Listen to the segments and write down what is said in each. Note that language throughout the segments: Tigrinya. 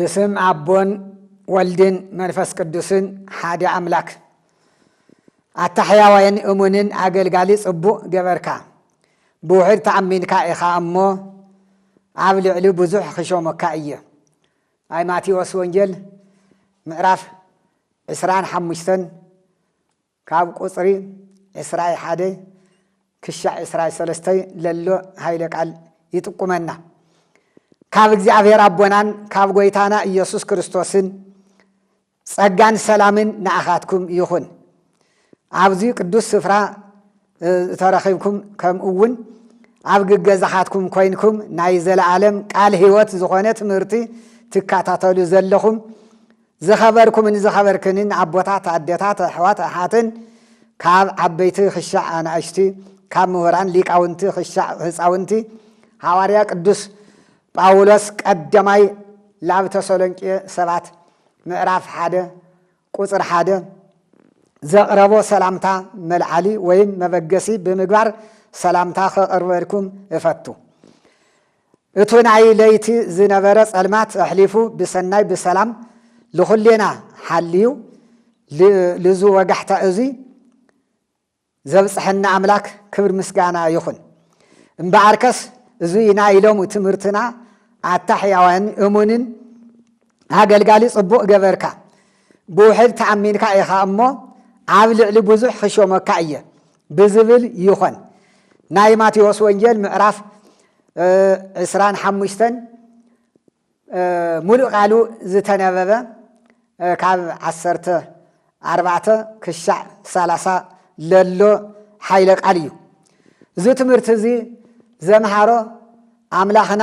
ብስም ኣቦን ወልድን መንፈስ ቅዱስን ሓደ ኣምላክ ኣታ ሕያዋይን እሙንን ኣገልጋሊ ጽቡቕ ገበርካ ብውሕድ ተኣሚንካ ኢኻ እሞ ኣብ ልዕሊ ብዙሕ ክሾመካ እየ ናይ ማቴዎስ ወንጌል ምዕራፍ ዕስራን ሓሙሽተን ካብ ቁጽሪ ዕስራይ ሓደይ ክሻዕ ዕስራይ ሰለስተይ ለሎ ሃይለ ቃል ይጥቁመና። ካብ እግዚኣብሔር ኣቦናን ካብ ጎይታና ኢየሱስ ክርስቶስን ጸጋን ሰላምን ንኣኻትኩም ይኹን። ኣብዚ ቅዱስ ስፍራ ዝተረኺብኩም ከምኡውን ኣብ ግገዛኻትኩም ኮይንኩም ናይ ዘለዓለም ቃል ሕይወት ዝኾነ ትምህርቲ ትካታተሉ ዘለኹም ዝኸበርኩምን ዝኸበርክንን ኣቦታት፣ ኣደታት፣ ኣሕዋት፣ ኣሓትን፣ ካብ ዓበይቲ ክሻዕ ኣናእሽቲ፣ ካብ ምሁራን ሊቃውንቲ ክሻዕ ህፃውንቲ፣ ሃዋርያ ቅዱስ ጳውሎስ ቀደማይ ላብ ተሰሎንቄ ሰባት ምዕራፍ ሓደ ቁፅር ሓደ ዘቕረቦ ሰላምታ መልዓሊ ወይም መበገሲ ብምግባር ሰላምታ ከቕርበልኩም እፈቱ። እቱ ናይ ለይቲ ዝነበረ ፀልማት ኣሕሊፉ ብሰናይ ብሰላም ልኹሌና ሓልዩ ልዙ ወጋሕታ እዙይ ዘብፀሐና ኣምላክ ክብር ምስጋና ይኹን። እምበኣርከስ እዙይ ናይ ሎሙ ትምህርትና ኣታ ሕያዋን እሙንን ኣገልጋሊ ፅቡቕ ገበርካ ብውሕድ ተኣሚንካ ኢኻ እሞ ኣብ ልዕሊ ብዙሕ ክሾመካ እየ ብዝብል ይኾን። ናይ ማቴዎስ ወንጌል ምዕራፍ ዕስራን ሓሙሽተን ሙሉእ ቃሉ ዝተነበበ ካብ ዓሰርተ ኣርባዕተ ክሻዕ ሰላሳ ለሎ ሓይለ ቃል እዩ። እዚ ትምህርቲ እዚ ዘምሃሮ ኣምላኽና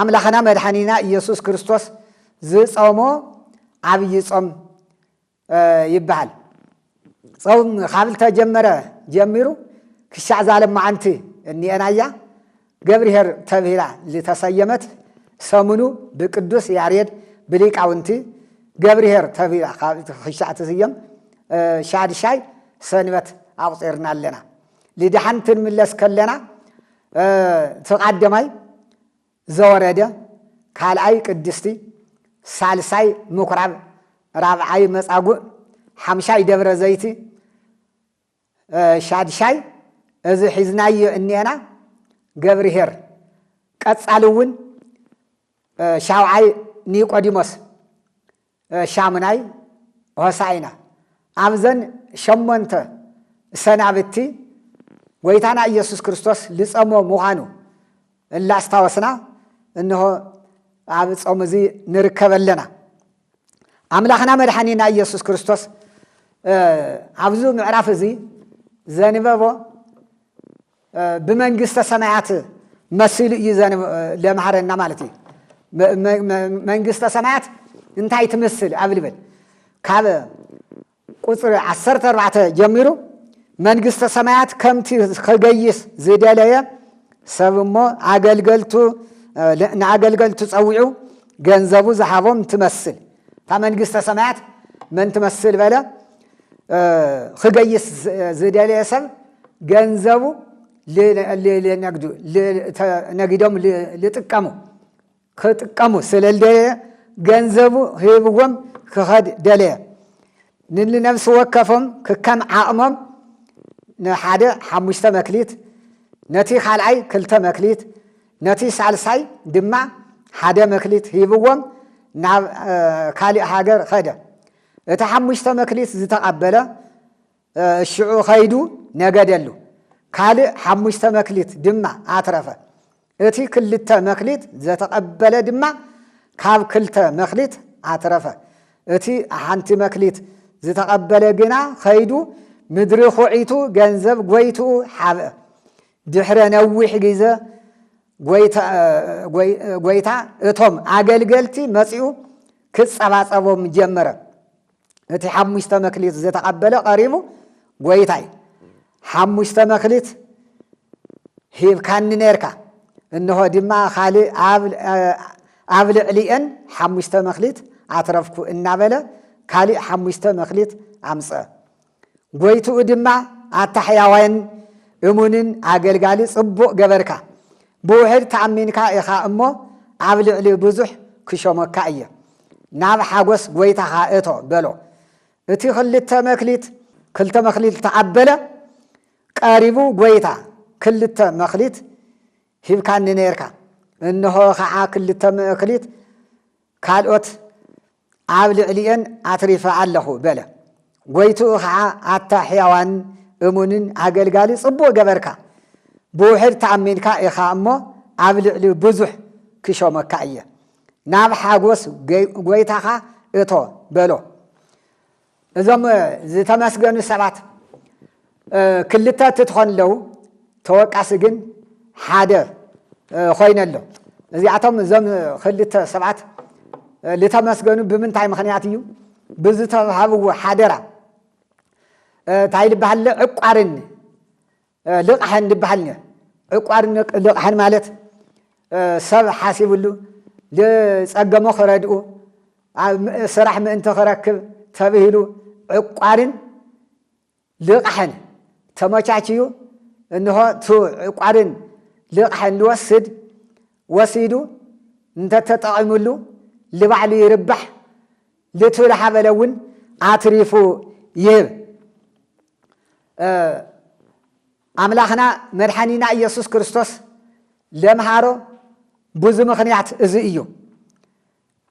ኣምላኽና መድሓኒና ኢየሱስ ክርስቶስ ዝጸሞ ዓብይ ጾም ይበሃል። ጾም ካብ ዝተጀመረ ጀሚሩ ክሻዕ ዛለም መዓንቲ እኒኤናያ ገብርሄር ተብሂላ ዝተሰየመት ሰሙኑ ብቅዱስ ያሬድ ብሊቃውንቲ ገብርሄር ተብሂላ ክሻዕ ትስየም ሻድሻይ ሰንበት ኣቑፂርና ኣለና። ልድሓን ትንምለስ ከለና ትቃደማይ ዘወረደ ካልኣይ ቅድስቲ ሳልሳይ ምኩራብ ራብዓይ መጻጉዕ ሓምሻይ ደብረ ዘይቲ ሻድሻይ እዚ ሒዝናዮ እኔና ገብርሄር ቀጻሊ እውን ሻውዓይ ኒቆዲሞስ ሻሙናይ፣ ሆሣዕና ኣብዘን ሸሞንተ ሰናብቲ ጐይታና ኢየሱስ ክርስቶስ ልጸሞ ምዃኑ እላስታወስና እንሆ ኣብ ጾም እዚ ንርከብ ኣለና። ኣምላኽና መድሓኒና ኢየሱስ ክርስቶስ ኣብዚ ምዕራፍ እዚ ዘንበቦ ብመንግስተ ሰማያት መሲሉ እዩ ለምሃረና ማለት እዩ መንግስተ ሰማያት እንታይ ትምስል ኣብ ልብል ካብ ቁፅሪ ዓሰርተ ኣርባዕተ ጀሚሩ መንግስተ ሰማያት ከምቲ ክገይስ ዝደለየ ሰብ እሞ ኣገልገልቱ ንኣገልገልቱ ፀዊዑ ገንዘቡ ዝሃቦም ትመስል እታ መንግስተ ሰማያት መን ትመስል በለ ክገይስ ዝደለየ ሰብ ገንዘቡ ነግዱ ነጊዶም ዝጥቀሙ ክጥቀሙ ስለ ዝደለየ ገንዘቡ ሂብዎም ክኸድ ደለየ ንነብሲ ወከፎም ክከም ዓቕሞም ንሓደ ሓሙሽተ መክሊት ነቲ ካልኣይ ክልተ መክሊት ነቲ ሳልሳይ ድማ ሓደ መክሊት ሂብዎም ናብ ካሊእ ሃገር ኸደ እቲ ሓሙሽተ መክሊት ዝተቐበለ ሽዑ ኸይዱ ነገደሉ፣ ካልእ ሓሙሽተ መክሊት ድማ ኣትረፈ። እቲ ክልተ መክሊት ዘተቐበለ ድማ ካብ ክልተ መክሊት ኣትረፈ። እቲ ሓንቲ መክሊት ዝተቐበለ ግና ኸይዱ ምድሪ ኹዒቱ ገንዘብ ጐይትኡ ሓብአ። ድሕረ ነዊሕ ግዘ ጐይታ እቶም ኣገልገልቲ መጺኡ ክጸባጸቦም ጀመረ። እቲ ሓሙሽተ መክሊት ዝተቐበለ ቀሪቡ ጐይታይ ሓሙሽተ መክሊት ሂብካኒ ነርካ፣ እንሆ ድማ ካልእ ኣብ ልዕሊኤን ሓሙሽተ መክሊት ኣትረፍኩ እናበለ ካልእ ሓሙሽተ መክሊት ኣምጽአ። ጐይትኡ ድማ ኣታ ሕያዋይን እሙንን ኣገልጋሊ ጽቡቕ ገበርካ፣ ብውሑድ ተኣሚንካ ኢኻ እሞ ኣብ ልዕሊ ብዙሕ ክሾመካ እየ፣ ናብ ሓጐስ ጐይታኻ እቶ በሎ። እቲ ክልተ መክሊት። ክልተ መክሊት ተቐበለ። ቀሪቡ ጐይታ ክልተ መክሊት ሂብካኒ ነርካ፣ እንሆ ኸዓ ክልተ መክሊት ካልኦት ኣብ ልዕሊኤን ኣትሪፈ ኣለኹ በለ። ጐይትኡ ኸዓ ኣታ ሕያዋን እሙንን ኣገልጋሊ ጽቡቕ ገበርካ፣ ብውሕድ ተኣሚንካ ኢኻ እሞ ኣብ ልዕሊ ብዙሕ ክሾመካ እየ፣ ናብ ሓጐስ ጐይታኻ እቶ በሎ። እዞም ዝተመስገኑ ሰባት ክልተ እትትኾን ኣለዉ ተወቃሲ ግን ሓደ ኮይነ ኣሎ እዚኣቶም እዞም ክልተ ሰባት ዝተመስገኑ ብምንታይ ምክንያት እዩ ብዝተሃብዎ ሓደራ እንታይ ልበሃለ ዕቋርን ልቓሕን ድበሃል ኔር ዕቋር ልቓሕን ማለት ሰብ ሓሲብሉ ልጸገሞ ክረድኡ ስራሕ ምእንቲ ክረክብ ተብሂሉ ዕቋርን ልቓሕን ተመቻችዩ እንሆ ቱ ዕቋርን ልቓሕን ልወስድ ወሲዱ እንተተጠቒምሉ ልባዕሉ ይርባሕ ልትብል ሓበለ እውን ኣትሪፉ ይህብ። ኣምላኽና መድሓኒና ኢየሱስ ክርስቶስ ለምሃሮ ብዙ ምኽንያት እዚ እዩ።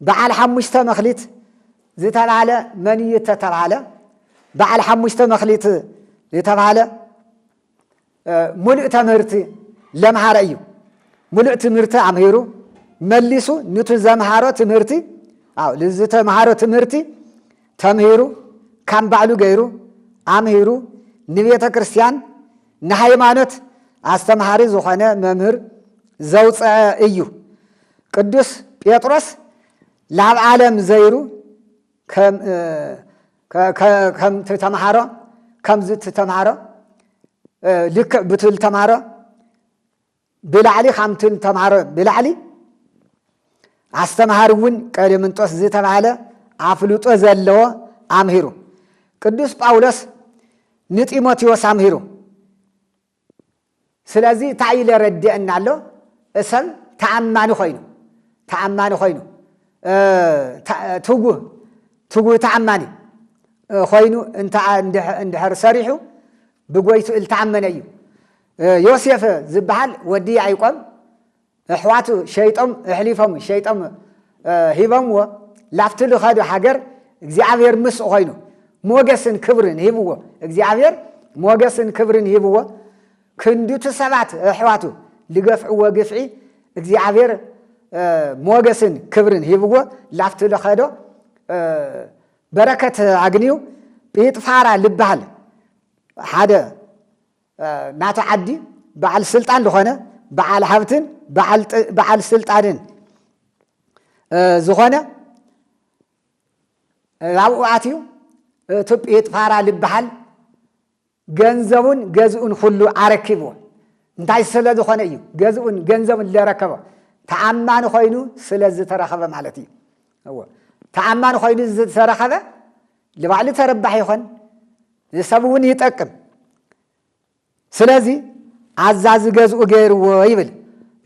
በዓል ሓሙሽተ መኽሊት ዝተባህለ መን እዩ ተተባህለ? በዓል ሓሙሽተ መኽሊት ዝተባህለ ሙሉእ ተምህርቲ ለምሃረ እዩ ሙሉእ ትምህርቲ ኣምሂሩ መሊሱ ንቲ ዘምሃሮ ትምህርቲ ዝተምሃሮ ትምህርቲ ተምሂሩ ካም ባዕሉ ገይሩ ኣምሂሩ ንቤተ ክርስቲያን ንሃይማኖት ኣስተምሃሪ ዝኾነ መምህር ዘውፅዐ እዩ ቅዱስ ጴጥሮስ ላብ ዓለም ዘይሩ ከምቲ ተምሃሮ ከምዚ እቲ ተምሃሮ ልክዕ ብቲ ዝተምሃሮ ብላዕሊ ከምቲ ዝተምሃሮ ብላዕሊ ኣስተምሃሪ እውን ቀሌምንጦስ ዝተባሃለ ኣፍልጦ ዘለዎ ኣምሂሩ ቅዱስ ጳውሎስ ንጢሞቴዎስ ኣምሂሩ ስለዚ እታይ ኢለ ረዲኤና ኣሎ እሰም ተኣማኒ ኮይኑ ተኣማኒ ኮይኑ ትጉህ ትጉህ ተኣማኒ ኮይኑ እንተ እንድሕር ሰሪሑ ብጎይቱ እልተኣመነ እዩ ዮሴፍ ዝበሃል ወዲ ያዕቆብ ኣሕዋቱ ሸይጦም ኣሕሊፎም ሸይጦም ሂቦምዎ ላብቲ ዝኸዶ ሃገር እግዚኣብሔር ምስኡ ኮይኑ ሞገስን ክብርን ሂብዎ እግዚኣብሔር ሞገስን ክብርን ሂብዎ ክንዱቲ ሰባት ኣሕዋቱ ዝገፍዕዎ ግፍዒ እግዚኣብሔር ሞገስን ክብርን ሂብዎ ላብቲ ዝኸዶ በረከት ኣግንዩ ጲጥፋራ ልበሃል ሓደ ናቲ ዓዲ በዓል ስልጣን ዝኾነ በዓል ሃብትን በዓል ስልጣንን ዝኾነ ኣብኡ ኣትዩ ቱጲት ፋራ ዝበሃል ገንዘቡን ገዝኡን ኩሉ ኣረኪብዎ እንታይ ስለ ዝኾነ እዩ ገዝኡን ገንዘቡን ዘረከቦ ተኣማኒ ኮይኑ ስለ ዝተረኸበ ማለት እዩ ተኣማኒ ኮይኑ ዝተረኸበ ልባዕሊ ተረባሕ ይኾን ንሰብ እውን ይጠቅም ስለዚ ኣዛዚ ገዝኡ ገይርዎ ይብል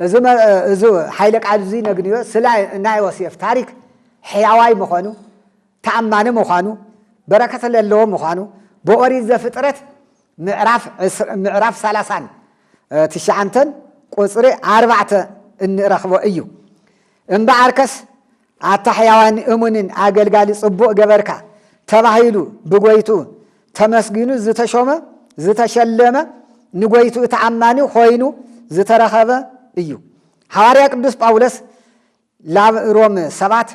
እዚ ሓይለ ቃል እዚ ነግንዮ ስለ ናይ ዮሴፍ ታሪክ ሕያዋይ ምዃኑ ተኣማኒ ምዃኑ በረከት ለለዎ ምዃኑ ብኦሪት ዘፍጥረት ምዕራፍ ሰላሳን ትሽዓንተን ቁፅሪ ኣርባዕተ እንረኽቦ እዩ እምበኣርከስ ኣታ ሕያዋን እሙንን ኣገልጋሊ ጽቡቕ ገበርካ ተባሂሉ ብጐይትኡ ተመስጊኑ ዝተሾመ ዝተሸለመ ንጐይትኡ ተኣማኒ ኾይኑ ዝተረኸበ እዩ። ሓዋርያ ቅዱስ ጳውሎስ ላብ ሮም ሰባት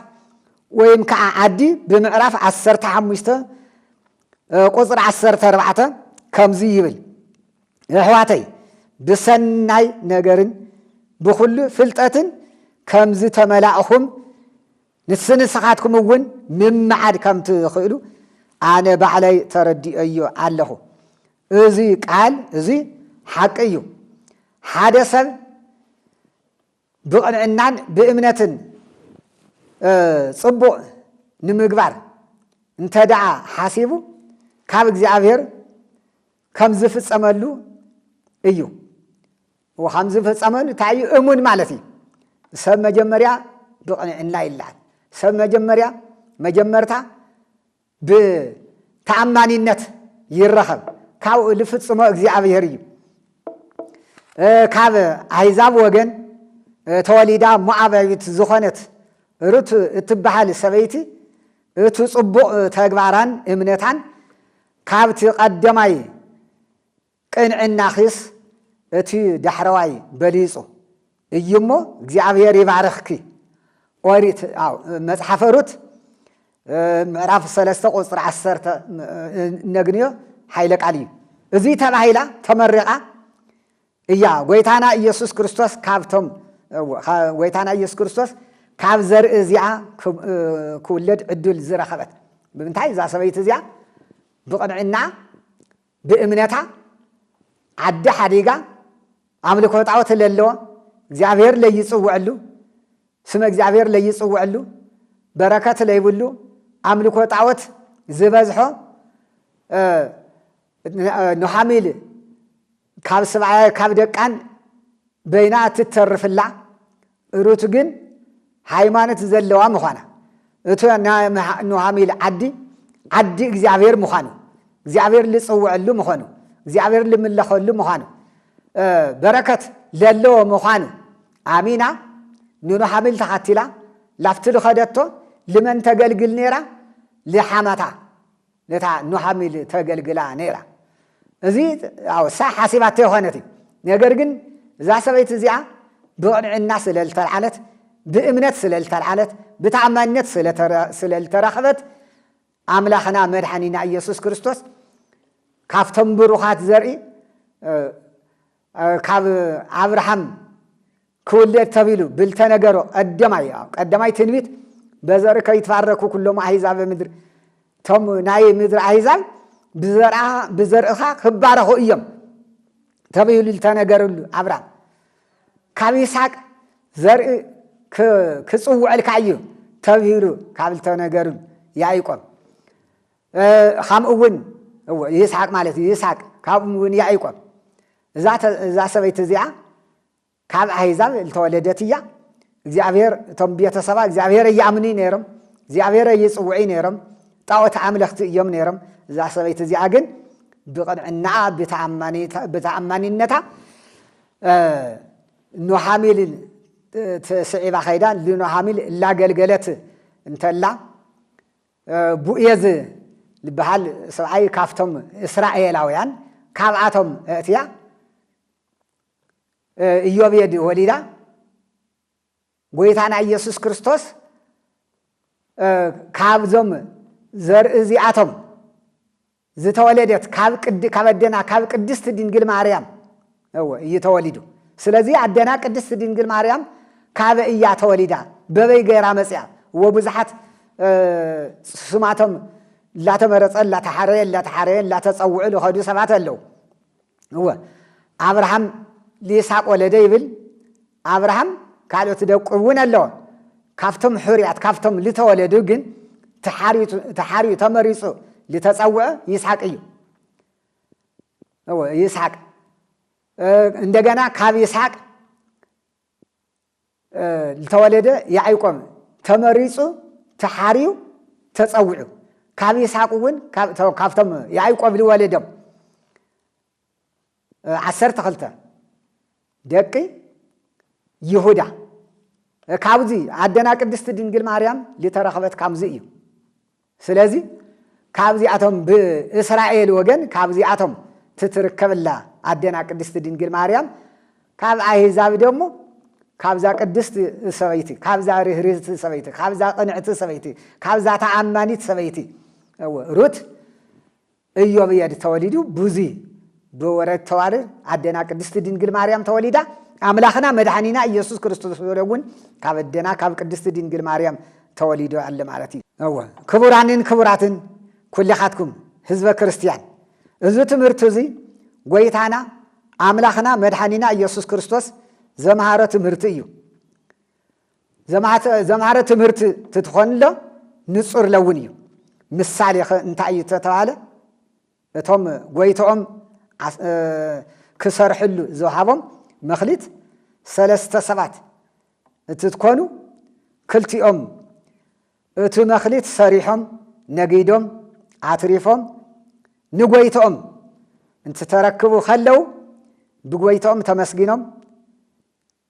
ወይም ከዓ ዓዲ ብምዕራፍ ዓሰርተ ሓሙሽተ ቁፅሪ ዓሰርተ ኣርባዕተ ከምዙይ ይብል የሕዋተይ ብሰናይ ነገርን ብኹሉ ፍልጠትን ከም ዝተመላእኹም ንስንስኻትኩም እውን ምምዓድ ከም ትኽእሉ ኣነ ባዕለይ ተረዲኦዮ ኣለኹ። እዚ ቃል እዚ ሓቂ እዩ። ሓደ ሰብ ብቕንዕናን ብእምነትን ጽቡቕ ንምግባር እንተ ደኣ ሓሲቡ ካብ እግዚኣብሔር ከም ዝፍጸመሉ እዩ ወኻም ዝፈጸመሉ እንታይ እዩ እሙን ማለት እዩ ሰብ መጀመርያ ብቕንዕና ይለዓል ሰብ መጀመርያ መጀመርታ ብተኣማኒነት ይረኸብ ካብኡ ዝፍጽሞ እግዚኣብሔር እዩ ካብ ኣሕዛብ ወገን ተወሊዳ ሞዓባዊት ዝኾነት ሩት እትበሃል ሰበይቲ እቲ ጽቡቕ ተግባራን እምነታን ካብቲ ቀደማይ ቅንዕናኺስ እቲ ዳሕረዋይ በሊጹ እዩ እሞ እግዚኣብሄር ይባርኽኪ። ኦሪት ኣው መጽሓፈ ሩት ምዕራፍ ሰለስተ ቁጽሪ ዓሰርተ እነግንዮ ሓይለ ቃል እዩ። እዙይ ተባሂላ ተመሪቓ እያ ጎይታና ኢየሱስ ክርስቶስ ካብቶም ጎይታና ኢየሱስ ክርስቶስ ካብ ዘርኢ እዚኣ ክውለድ ዕድል ዝረኸበት ብምንታይ እዛ ሰበይቲ እዚኣ ብቕንዕና ብእምነታ ዓዲ ሓዲጋ ኣምልኮ ጣዖት ለለዎ እግዚኣብሔር ለይፅውዐሉ ስመ እግዚኣብሔር ለይፅውዐሉ በረከት ለይብሉ ኣምልኮ ጣዖት ዝበዝሖ ኖሃሚል ካብ ስብኣያ ካብ ደቃን በይና እትተርፍላ ሩት ግን ሃይማኖት ዘለዋ ምዃና እቲ ናይ ኑሃሚል ዓዲ ዓዲ እግዚኣብሔር ምዃኑ እግዚኣብሔር ልፅውዐሉ ምዃኑ እግዚኣብሔር ልምለኸሉ ምዃኑ በረከት ለለዎ ምዃኑ ኣሚና ንኑሃሚል ተኸቲላ ላፍቲ ልኸደቶ ልመን ተገልግል ነይራ ልሓማታ ነታ ኑሃሚል ተገልግላ ነይራ። እዚ ያው እሳ ሓሲባቶ ኣይኮነት እዩ ነገር ግን እዛ ሰበይቲ እዚኣ ብቕንዕና ስለ ዝተልዓለት ብእምነት ስለ ዝተልዓለት ብተኣማንነት ስለ ዝተረኽበት ኣምላኽና መድሓኒና ኢየሱስ ክርስቶስ ካብቶም ብሩኻት ዘርኢ ካብ ኣብርሃም ክውለድ ተብሂሉ ብልተነገሮ ቀደማይ ኣው ቀደማይ ትንቢት በዘር ከይትባረኩ ኩሎም ኣሂዛበ ምድር እቶም ናይ ምድሪ ኣሂዛብ ብዘርእኻ ክባረኹ እዮም ተብሂሉ ዝተነገርሉ ኣብራም ካብ ይስሓቅ ዘርኢ ክጽውዐልካ እዩ ተብሂሉ ካብ ዝተነገሩ ያዕቆብ ከምኡ እውን ይስሓቅ ማለት እዩ ይስሓቅ ካብኡ እውን ያዕቆብ እዛ ሰበይቲ እዚኣ ካብ ኣሕዛብ ልተወለደት እያ እግዚኣብሔር እቶም ቤተሰባ እግዚኣብሔር ኣይኣምኑይ ነይሮም እግዚኣብሔር ኣይፅውዑይ ነይሮም ጣዖት ኣምለኽቲ እዮም ነይሮም እዛ ሰበይቲ እዚኣ ግን ብቕንዕናኣ ብተኣማኒነታ ኖሃሚል ትስዒባ ከይዳ ልኖሃሚል እላገልገለት እንተላ ቡኤዝ ዝበሃል ሰብኣይ ካብቶም እስራኤላውያን ካብኣቶም እእትያ ኢዮቤድ ወሊዳ ጎይታና ኢየሱስ ክርስቶስ ካብዞም ዘርኢ እዚኣቶም ዝተወለደት ካብ ቅድ ካብ ኣደና ካብ ቅድስት ድንግል ማርያም እወ እዩ ተወሊዱ ስለዚ ኣደና ቅድስት ድንግል ማርያም ካበ እያ ተወሊዳ በበይ ገይራ መፅያ እወ ብዙሓት ስማቶም እላተመረፀ እላተሓረየ እላተሓረየ እላተፀውዑ ዝኸዱ ሰባት ኣለዉ እወ ኣብርሃም ልይስሓቅ ወለደ ይብል ኣብርሃም ካልኦት ደቁ እውን ኣለዎ ካብቶም ሕሩያት ካብቶም ልተወለዱ ግን ተሓርዩ ተመሪፁ ልተፀውዐ ይስሓቅ እዩ ይስሓቅ እንደገና ካብ ይስሓቅ ልተወለደ ያዒቆም ተመሪጹ ተሓርዩ ተጸውዑ ካብ ይስሓቅ እውን ካብቶም ያዒቆብ ልወለዶም ዓሰርተ ክልተ ደቂ ይሁዳ ካብዚ ኣደና ቅድስቲ ድንግል ማርያም ልተረኽበት ካብዚ እዩ። ስለዚ ካብዚኣቶም ብእስራኤል ወገን ካብዚኣቶም ትትርከብላ ኣዴና ቅድስቲ ድንግል ማርያም ካብ ኣህዛብ ደሞ ካብዛ ቅድስቲ ሰበይቲ ካብዛ ርህርህቲ ሰበይቲ ካብዛ ቅንዕቲ ሰበይቲ ካብዛ ተኣማኒት ሰበይቲ ሩት እዮብየድ ተወሊዱ ቡዚ ብወረድ ተዋርድ ኣደና ቅድስቲ ድንግል ማርያም ተወሊዳ ኣምላክና መድሓኒና እየሱስ ክርስቶስ ተወልደ እውን ካብ ኣደና ካብ ቅድስቲ ድንግል ማርያም ተወሊዶ ኣለ ማለት እዩ። እወ ክቡራንን ክቡራትን ኩልኻትኩም ህዝበ ክርስትያን እዚ ትምህርቲ እዚ ጎይታና ኣምላክና መድሓኒና እየሱስ ክርስቶስ ዘምሃሮ ትምህርቲ እዩ። ዘምሃረ ትምህርቲ ትትኾንሎ ንጹር ለውን እዩ። ምሳሌኸ እንታይ እዩ ተተባህለ እቶም ጎይተኦም ክሰርሕሉ ዝውሃቦም መክሊት ሰለስተ ሰባት እትትኮኑ ክልቲኦም እቲ መክሊት ሰሪሖም ነጊዶም ኣትሪፎም ንጎይተኦም እንትተረክቡ ከለው ብጎይተኦም ተመስጊኖም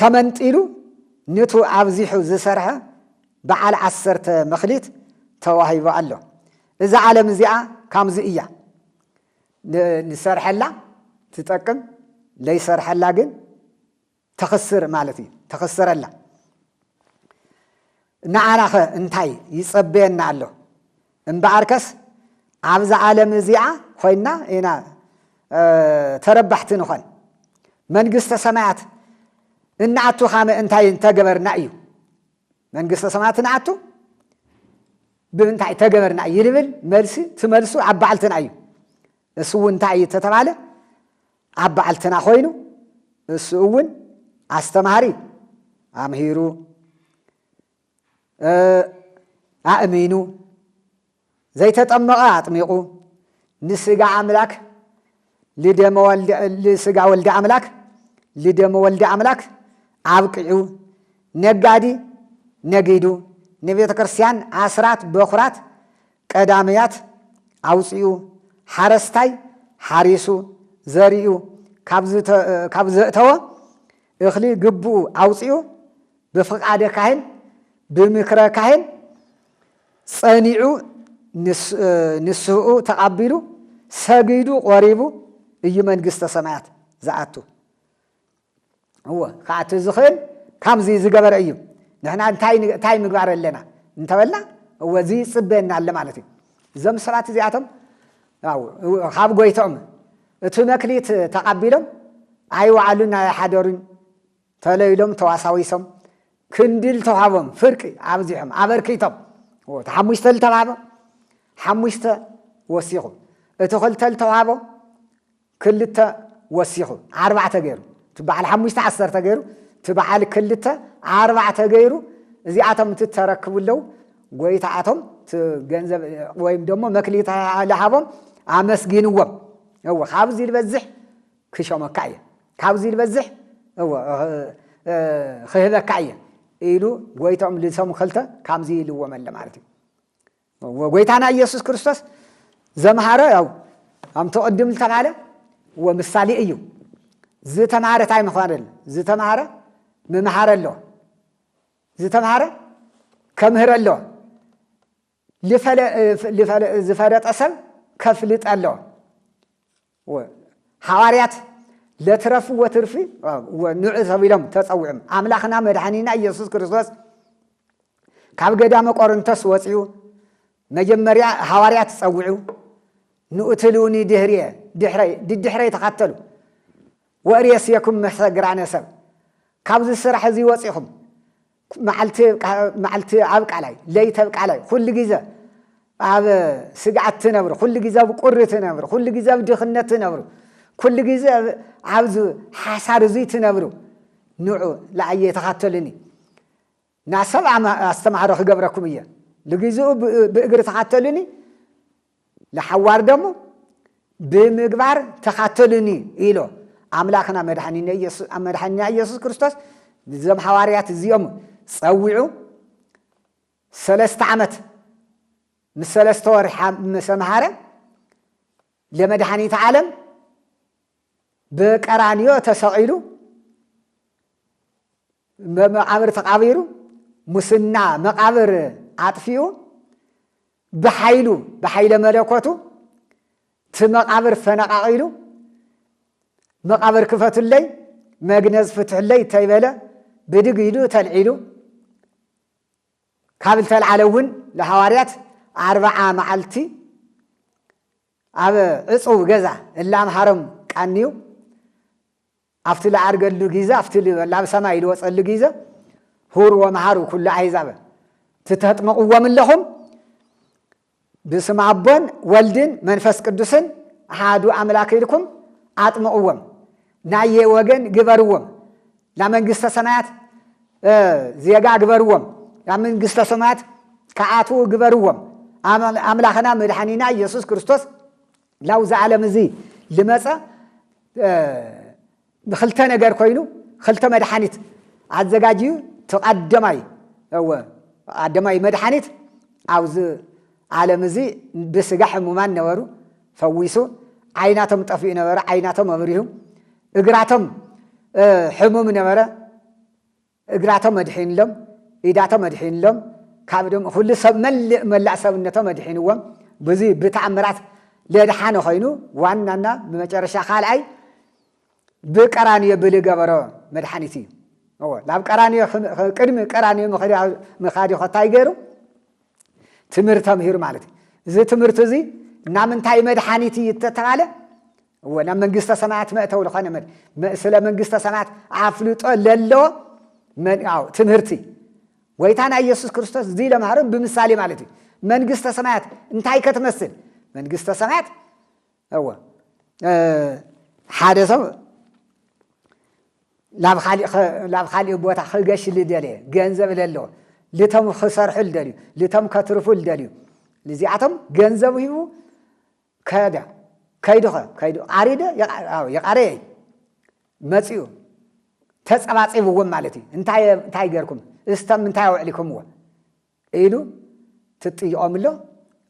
ተመንጢሉ ንቱ ኣብዚሑ ዝሰርሐ በዓል ዓሰርተ መክሊት ተዋሂቡ ኣሎ። እዛ ዓለም እዚኣ ካምዚ እያ ንሰርሐላ ትጠቅም ለይሰርሐላ ግን ተኽስር ማለት እዩ ተኽስረላ ንዓናኸ እንታይ ይጸበየና ኣሎ እምበኣርከስ ኣብዛ ዓለም እዚኣ ኾይንና ኢና ተረባሕቲ ንኾን። መንግስተ ሰማያት እንኣቱ ካመ እንታይ እንተገበርና እዩ? መንግስተ ሰማያት እንኣቱ ብምንታይ ተገበርና እዩ ልብል መልሲ ትመልሱ ኣብ በዓልትና እዩ። እሱ እውን እንታይ እዩ ተተባለ ኣብ በዓልትና ኮይኑ እሱ እውን ኣስተማሃሪ ኣምሂሩ ኣእሚኑ፣ ዘይተጠመቐ ኣጥሚቑ፣ ንስጋ ኣምላክ ልደመ ወልደ ልስጋ ወልደ ኣምላክ ልደመ ወልደ ኣምላክ ኣብቂዑ፣ ነጋዲ ነጊዱ፣ ንቤተ ክርስቲያን ኣስራት በኩራት ቀዳምያት ኣውፂኡ፣ ሓረስታይ ሓሪሱ ዘሪኡ ካብ ዘእተወ እኽሊ ግብኡ ኣውፂኡ ብፍቃደ ካህን ብምክረ ካህን ጸኒዑ ንስህኡ ተቃቢሉ ሰጊዱ ቆሪቡ እዩ መንግስተ ሰማያት ዝኣቱ እወ ክኣቱ ዝኽእል ካብዚ ዝገበረ እዩ ንሕና እንታይ ምግባር ኣለና እንተበልና እወ እዚ ይፅበየና ኣለ ማለት እዩ እዞም ሰባት እዚኣቶም ካብ ጎይቶም እቲ መክሊት ተቃቢሎም ኣይወዓሉን ኣይሓደሩን ተለይሎም ተዋሳዊሶም ክንዲ ልተዋህቦም ፍርቂ ኣብዚሖም ኣበርኪቶም ዎ እቲ ሓሙሽተ ልተዋህቦም ሓሙሽተ ወሲኹ እቲ ክልተ ልተዋህቦም ክልተ ወሲኹ ኣርባዕተ ገይሩ እቲ በዓል ሓሙሽተ ዓሰርተ ገይሩ እቲ በዓል ክልተ ኣርባዕተ ገይሩ እዚኣቶም እቲ ተረክቡ ኣለው ጎይታኣቶም ገንዘብ ወይም ደሞ መክሊት ልሃቦም ኣመስጊንዎም እዎ ካብዚ ዝበዝሕ ክሾመካ እየ፣ ካብዚ ዝበዝሕ እወ ኽህበካ እየ ኢሉ ጎይትኦም ልሰሙ ኸልተ ካምዚ ኢልዎም ኣለ ማለት እዩ። ወጎይታና ኢየሱስ ክርስቶስ ዘምሃረ ያው ኣምቲ ቅድም ዝተባለ ወምሳሌ እዩ። ዝተምሃረ ታይ ምዃን ዝተምሃረ ምምሃር ኣለዎ ዝተምሃረ ከምህር ኣለዎ ዝፈለጠ ሰብ ከፍልጥ ኣለዎ ሃዋርያት ለትረፍ ወትርፊ ንዑ ተብሎም ተጸዊዑም ኣምላኽና መድኃኒና ኢየሱስ ክርስቶስ ካብ ገዳመ ቆርንቶስ ወፂኡ መጀመርያ ሃዋርያት ጸውዑ ንኡትልውኒ ድህርየ ድሕረይ ድድሕረይ ተኸተሉ ወእርየስየኩም መሰግራነ ሰብ ካብዚ ስራሕ እዚ ወፂኹም መዓልቲ መዓልቲ ኣብ ቃላይ ለይቲ ኣብ ቃላይ ኩሉ ግዜ ኣብ ስግኣት ትነብሩ፣ ኩሉ ግዜ ኣብ ቁሪ ትነብሩ፣ ኩሉ ግዜ ኣብ ድኽነት ትነብሩ፣ ኩሉ ግዜ ኣብዚ ሓሳር እዙይ ትነብሩ ንዑ ለኣየ ተኻተሉኒ ናሰብ ኣስተምሃሮ ክገብረኩም እየ ልግዝኡ ብእግሪ ተኻተሉኒ ለሓዋር ደሞ ብምግባር ተኻተሉኒ ኢሎ ኣምላኽና መድሓኒና ኢየሱስ ክርስቶስ ንዘም ሓዋርያት እዚኦም ጸዊዑ ሰለስተ ዓመት ምስ ሰለስተ ወርሒ መሰምሃረ ለመድሓኒት ዓለም ብቀራንዮ ተሰቒሉ መቃብር ተቃቢሩ ሙስና መቃብር ኣጥፊኡ ብሓይሉ ብሓይለ መለኮቱ እቲ መቃብር ፈነቃቂሉ መቃብር ክፈቱለይ መግነዝ ፍትሕለይ እንተይበለ ብድግ ኢሉ ተልዒሉ ካብ ዝተልዓለ እውን ንሃዋርያት ኣርባዓ መዓልቲ ኣብ ዕጹው ገዛ እለ ኣምሃሮም ቃንዩ ኣብቲ ልኣርገሉ ጊዘ ኣብቲ ላብ ሰማይ ልወጸሉ ጊዘ ሁር ወመሃሩ ኩሉ ኣሕዛበ ትተጥመቕዎም እለኹም ብስም ኣቦን ወልድን መንፈስ ቅዱስን ኣሓዱ ኣምላክ ኢልኩም ኣጥምቕዎም ናየ ወገን ግበርዎም ላመንግስተ ሰማያት ዜጋ ግበርዎም ላመንግስተ ሰማያት ከኣትዉ ግበርዎም ኣምላኽና መድሓኒና ኢየሱስ ክርስቶስ ላውዚ ዓለም እዚ ልመፀ ንክልተ ነገር ኮይኑ ክልተ መድሓኒት ኣዘጋጅዩ ተቐደማይ እወ ኣደማይ መድሓኒት ኣብዚ ዓለም እዚ ብስጋ ሕሙማን ነበሩ ፈዊሱ ዓይናቶም ጠፊኡ ነበረ ዓይናቶም ኣብሪሁ እግራቶም ሕሙም ነበረ እግራቶም ኣድሒንሎም ኢዳቶም ኣድሒንሎም ካብ ደም ኩሉ ሰብ መልእ መላእ ሰብነቶም ኣድሒንዎም ብዙ ብተኣምራት ለድሓነ ኮይኑ ዋናና ብመጨረሻ ካልኣይ ብቀራንዮ ብልገበሮ መድሓኒት እዩ እዎ ናብ ቀራንዮ ቅድሚ ቀራንዮ ምኻድ ኸ እንታይ ገይሩ ትምህርቲ ተምሂሩ ማለት እዩ እዚ ትምህርቲ እዚ ናብ ምንታይ መድሓኒት እዩ እተተባለ እዎ ናብ መንግስተ ሰማያት መእተው ዝኾነ ስለ መንግስተ ሰማያት ኣፍልጦ ለለዎ ትምህርቲ ጎይታና ኢየሱስ ክርስቶስ እዚ ለምሃሮም ብምሳሌ ማለት እዩ መንግስተ ሰማያት እንታይ ከትመስል መንግስተ ሰማያት እወ ሓደ ሰብ ላብ ካሊእ ቦታ ክገሽ ልደለየ ገንዘብ ለለዎ ልቶም ክሰርሑ ልደልዩ ልቶም ከትርፉ ልደልዩ ልዚኣቶም ገንዘብ ሂቡ ከደ ከይዱኸ ከይዱ ቃሪደ የቃረየ መፅኡ ተፀባፂብዎም ማለት እዩ እንታይ ገርኩም እስተም እንታይ ኣውዕሊኩምዎ ኢሉ ትጥይቆም ኣሎ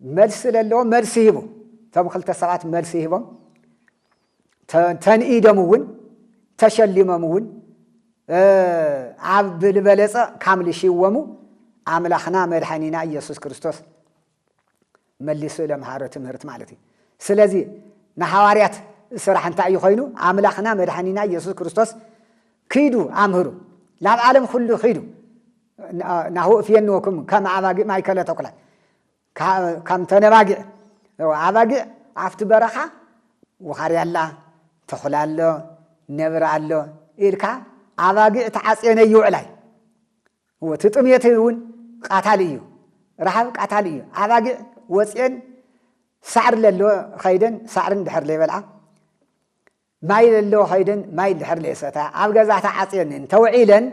መልሲ ለለዎ መልሲ ሂቡ እቶም ክልተ ሰባት መልሲ ሂቦም ተንኢዶም እውን ተሸሊሞም እውን ኣብ ብልበለፀ ካምልሽወሙ ኣምላኽና መድሓኒና ኢየሱስ ክርስቶስ መሊሱ ለምሃሮ ትምህርት ማለት እዩ። ስለዚ ንሓዋርያት ስራሕ እንታይ እዩ ኮይኑ? ኣምላኽና መድኃኒና ኢየሱስ ክርስቶስ ኪዱ ኣምህሩ ናብ ዓለም ኹሉ ኺዱ ናሁ እፍየንወኩም ከም ኣባጊዕ ማእከለ ተኩላት ከም ተነባጊዕ ኣባጊዕ ኣብቲ በረኻ ውኻርያ ኣላ ተኹላ ኣሎ ነብሪ ኣሎ ኢልካ ኣባጊዕ ተዓፅየን ይውዕላይ እወ እቲ ጥምየት እውን ቃታሊ እዩ ረሃብ ቃታሊ እዩ ኣባጊዕ ወፅኤን ሳዕሪ ለለዎ ኸይደን ሳዕሪ እንድሕር ለይበልዓ ማይ ለለዎ ኸይደን ማይ እንድሕር ለይሰታ ኣብ ገዛ ተዓፅየን እንተውዒለን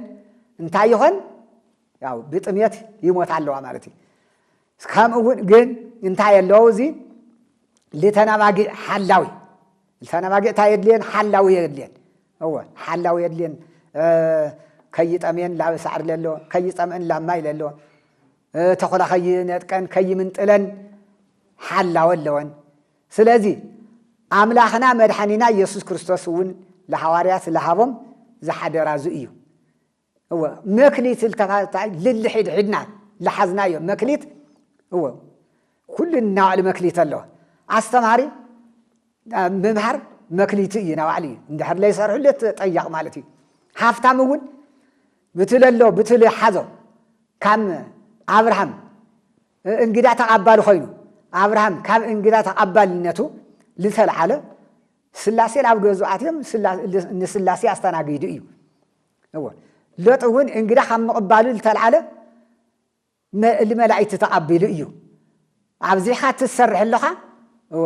እንታይ ይኾን ያው ብጥምየት ይሞታ ኣለዋ ማለት እዩ ከምኡ እውን ግን እንታይ ኣለዎ እዚ ልተናባጊዕ ሓላዊ ልተናባጊዕ እንታይ የድልየን ሓላዊ የድልየን እወ ሓላው የድልየን ከይጠምየን ላብ ሳዕሪ ለሎ ከይፀምእን ላብ ማይ ለሎ ተኹላ ከይነጥቀን ከይምንጥለን ሓላወ ኣለወን ስለዚ ኣምላኽና መድሓኒና ኢየሱስ ክርስቶስ እውን ለሃዋርያት ለሃቦም ዝሓደራ እዙይ እዩ እወ መክሊት ዝተባህልታ ልልሒድ ሒድና ልሓዝናዮ መክሊት እወ ኩሉ ናባዕሉ መክሊት ኣለዎ ኣስተማሃሪ ምምሃር መክሊቱ እዩ ናባዕሉ እዩ እንድሕር ለይሰርሑለት ጠያቕ ማለት እዩ ሃፍታም እውን ብትለ ኣሎ ብትለ ሓዞ ካም ኣብርሃም እንግዳ ተቓባሊ ኮይኑ ኣብርሃም ካብ እንግዳ ተቓባልነቱ ዝተልዓለ ስላሴ ናብ ገዙ ኣትዮም ንስላሴ ኣስተናጊዱ እዩ እወ ሎጥ እውን እንግዳ ካብ ምቕባሉ ዝተልዓለ እሊ መላእክቲ ተቐቢሉ እዩ ኣብዚሕካ ትሰርሕ ኣለኻ እወ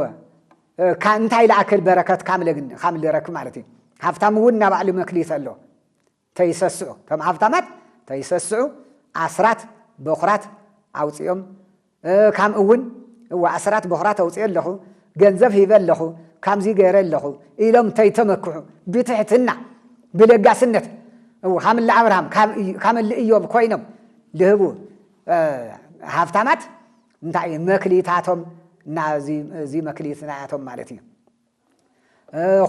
እንታይ ለኣክል በረከት ካም ልረክብ ማለት እዩ ሃብታም እውን እና ባዕሉ መክሊት ኣሎ ተይሰስዑ ከም ሃብታማት ተይሰስዑ ኣስራት በኩራት ኣውፅኦም ካም እውን እወ ኣሰራት ቦኽራ ተውፅኤ ኣለኹ ገንዘብ ሂበ ኣለኹ ካምዙይ ገይረ ኣለኹ ኢሎም እንተይተመክሑ ብትሕትና ብለጋስነት እው ካም እለ ኣብርሃም ካም እለ እዮም ኮይኖም ልህቡ ሃፍታማት እንታይ እዩ መክሊታቶም ናዙይ መክሊት ናያቶም ማለት እዩ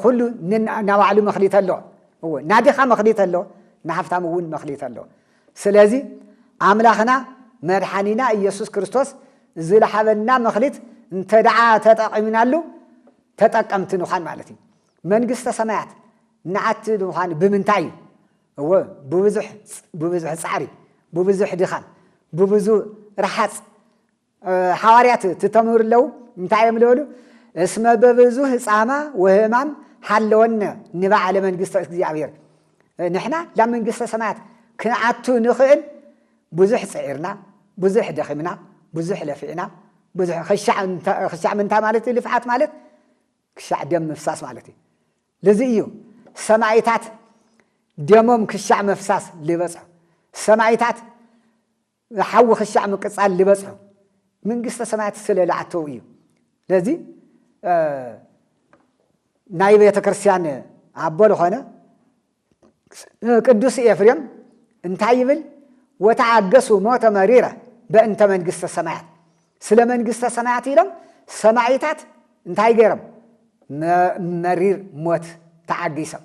ኩሉ ናባዕሉ መክሊት ኣሎ እዎ ናድኻ መክሊት ኣሎ ንሃፍታም እውን መክሊት ኣሎ ስለዚ ኣምላኽና መድሓኒና ኢየሱስ ክርስቶስ ዝለሓበና መክሊት እንተ ደዓ ተጠቂምናሉ ተጠቀምቲ ንዃን ማለት እዩ መንግስተ ሰማያት ንኣቲ ንዃን ብምንታይ እዩ እዎ ብብዙሕ ፃዕሪ ብብዙሕ ድኻም ብብዙ ረሓፅ ሓዋርያት እቲ ተምህሩ ኣለዉ እንታይ እዮም ዝበሉ? እስመ በብዙህ ጻማ ወህማም ሓለወነ ንባዕለ መንግስተ እግዚኣብሔር ንሕና ናብ መንግስተ ሰማያት ክንኣቱ ንኽእል ብዙሕ ፅዒርና ብዙሕ ደኺምና ብዙሕ ለፊዕና ብዙሕ ክሻዕ ምንታይ ማለት እዩ ልፍዓት ማለት ክሻዕ ደም ምፍሳስ ማለት እዩ ልዚ እዩ ሰማይታት ደሞም ክሻዕ መፍሳስ ልበፅሑ ሰማይታት ዝሓዊ ክሻዕ ምቅጻል ልበጽሖ ምንግስተ ሰማያት ስለ ልኣተው እዩ ለዚ ናይ ቤተክርስቲያን ኣቦ ልኾነ ቅዱስ ኤፍሬም እንታይ ይብል ወተኣገሱ ሞተ መሪረ በእንተ መንግስተ ሰማያት ስለ መንግስተ ሰማያት ኢሎም ሰማይታት እንታይ ገይሮም መሪር ሞት ተዓጊሶም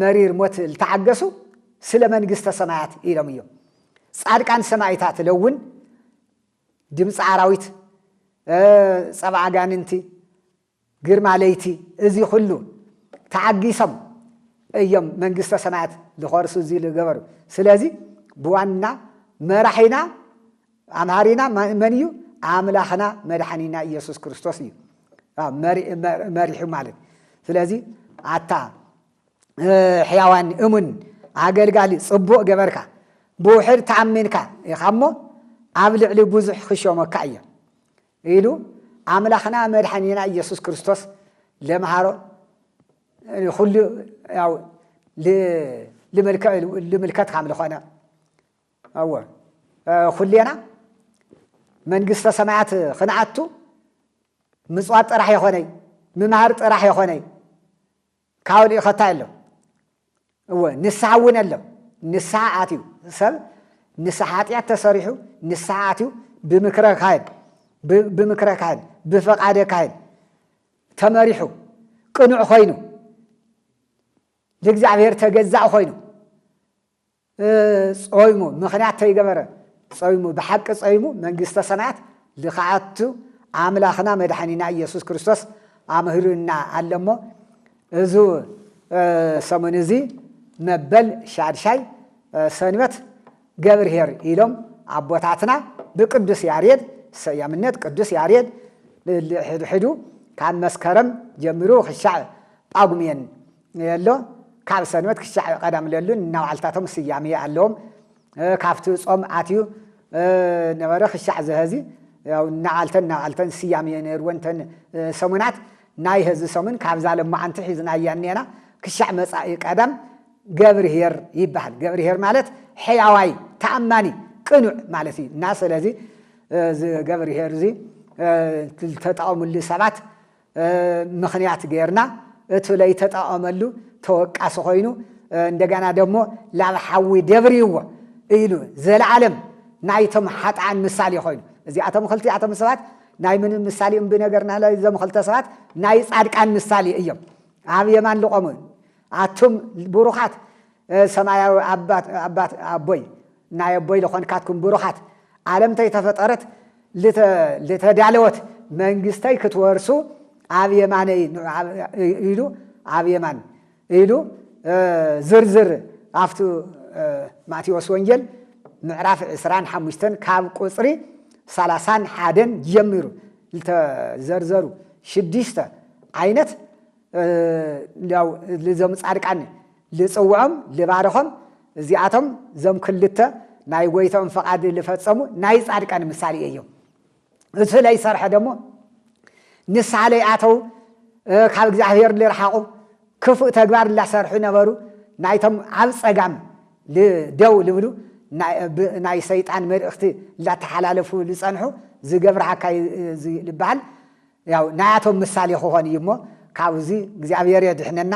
መሪር ሞት ልተዓገሱ ስለ መንግስተ ሰማያት ኢሎም እዮም። ጻድቃን ሰማይታት ለውን ድምፂ ኣራዊት፣ ፀባ ኣጋንንቲ፣ ግርማ ለይቲ እዚ ኩሉ ተዓጊሶም እዮም መንግስተ ሰማያት ዝኸርሱ እዚ ዝገበሩ። ስለዚ ብዋና መራሒና ኣምሃሪና መን እዩ ኣምላኽና መድሓኒና ኢየሱስ ክርስቶስ እዩ መሪሑ ማለት ስለዚ ኣታ ሕያዋን እሙን ኣገልጋሊ ጽቡቕ ገበርካ ብውሕድ ተኣሚንካ ኢኻ እሞ ኣብ ልዕሊ ብዙሕ ክሾመካ እየ ኢሉ ኣምላኽና መድሓኒና ኢየሱስ ክርስቶስ ለምሃሮ ኩሉ ያው ልምልከት ካም ዝኾነ ኣወ ኹሌና መንግስተ ሰማያት ኽንኣቱ ምጽዋት ጥራሕ የኾነይ ምምሃር ጥራሕ የኾነይ ካብኡ ልኢኸታ ኣሎ እወ ንስሓ እውን ኣሎ ንስሓ ኣትዩ ሰብ ንስሓ ሓጢኣት ተሰሪሑ ንስሓ ኣትዩ ብምክረ ካህን ብምክረ ካህን ብፈቓደ ካህን ተመሪሑ ቅኑዕ ኮይኑ ንእግዚኣብሔር ተገዛእ ኮይኑ ጾይሙ ምኽንያት ተይገበረ ጾይሙ ብሓቂ ጾይሙ መንግስተ ሰማያት ልክኣቱ ኣምላኽና መድሓኒና ኢየሱስ ክርስቶስ ኣምህሩና ኣሎ እሞ እዙ ሰሙን እዚ መበል ሻድሻይ ሰንበት ገብርሄር ኢሎም ኣቦታትና ብቅዱስ ያሬድ ሰያምነት ቅዱስ ያሬድ ሕድሕዱ ካብ መስከረም ጀምሩ ክሻዕ ጳጉሜን የሎ ካብ ሰንበት ክሻዕ ቀዳም ለሉ እናባዕልታቶም ስያሜ ኣለዎም ካብቲ ጾም ኣትዩ ነበረ ክሻዕ ዝሀዚ ያው እናባዕልተን እናባዕልተን ስያሜ ነይርወን ተን ሰሙናት ናይ ሀዚ ሰሙን ካብዛ ለማዓንቲ ሒዝናያ እኒኤና ክሻዕ መጻኢ ቀዳም ገብርሄር ይበሃል ገብርሄር ማለት ሕያዋይ ተኣማኒ ቅኑዕ ማለት እዩ እና ስለዚ እዚ ገብርሄር እዚ ተጠቐምሉ ሰባት ምኽንያት ገይርና እቱ ለይተጠቐመሉ ተወቃሲ ኮይኑ እንደገና ደሞ ላብ ሓዊ ደብርይዎ ኢሉ ዘለዓለም ናይቶም ሓጥኣን ምሳሌ ኮይኑ እዚኣቶም ክልቲኣቶም ሰባት ናይ ምን ምሳሌ እም ብነገርና እዞም ክልተ ሰባት ናይ ጻድቃን ምሳሌ እዮም ኣብ የማን ልቆሙ ኣቱም ብሩኻት ሰማያዊ ኣባት ኣቦይ ናይ ኣቦይ ልኾንካትኩም ብሩኻት ዓለም ተይተፈጠረት ልተዳለወት መንግስተይ ክትወርሱ ኣብ የማነይ ኢሉ ኣብ የማን ኢሉ ዝርዝር ኣብቲ ማቴዎስ ወንጌል ምዕራፍ ዕስራን ሓሙሽተን ካብ ቁፅሪ ሰላሳን ሓደን ጀሚሩ ልተዘርዘሩ ሽዱሽተ ዓይነት እንዲያው ልዞም ጻድቃን ልጽውዖም ልባርኾም እዚኣቶም ዞም ክልተ ናይ ጎይታኦም ፈቓድ ልፈጸሙ ናይ ጻድቃን ምሳሌ እዮም እሱ ላይ ሰርሐ ደግሞ ንስሓ ላይ ኣተው ካብ እግዚኣብሔር ልርሓቑ ክፉእ ተግባር ላሰርሑ ነበሩ ናይቶም ኣብ ጸጋም ደው ልብሉ ናይ ሰይጣን መልእኽቲ ላተሓላለፉ ልጸንሑ ዝገብርሃካ ዝበሃል ያው ናያቶም ምሳሌ ክኾን እዩ እሞ ካብዚ እግዚኣብሔር የድሕነና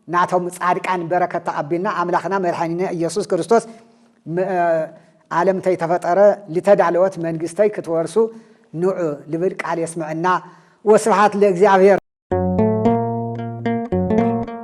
ናቶም ፃድቃን በረከት ተቀቢልና ኣምላክና መድሐኒነ ኢየሱስ ክርስቶስ ዓለም ተይተፈጠረ ልተዳለወት መንግስተይ ክትወርሱ ንዑ ልብል ቃል የስምዐና ወስብሐት ለእግዚኣብሔር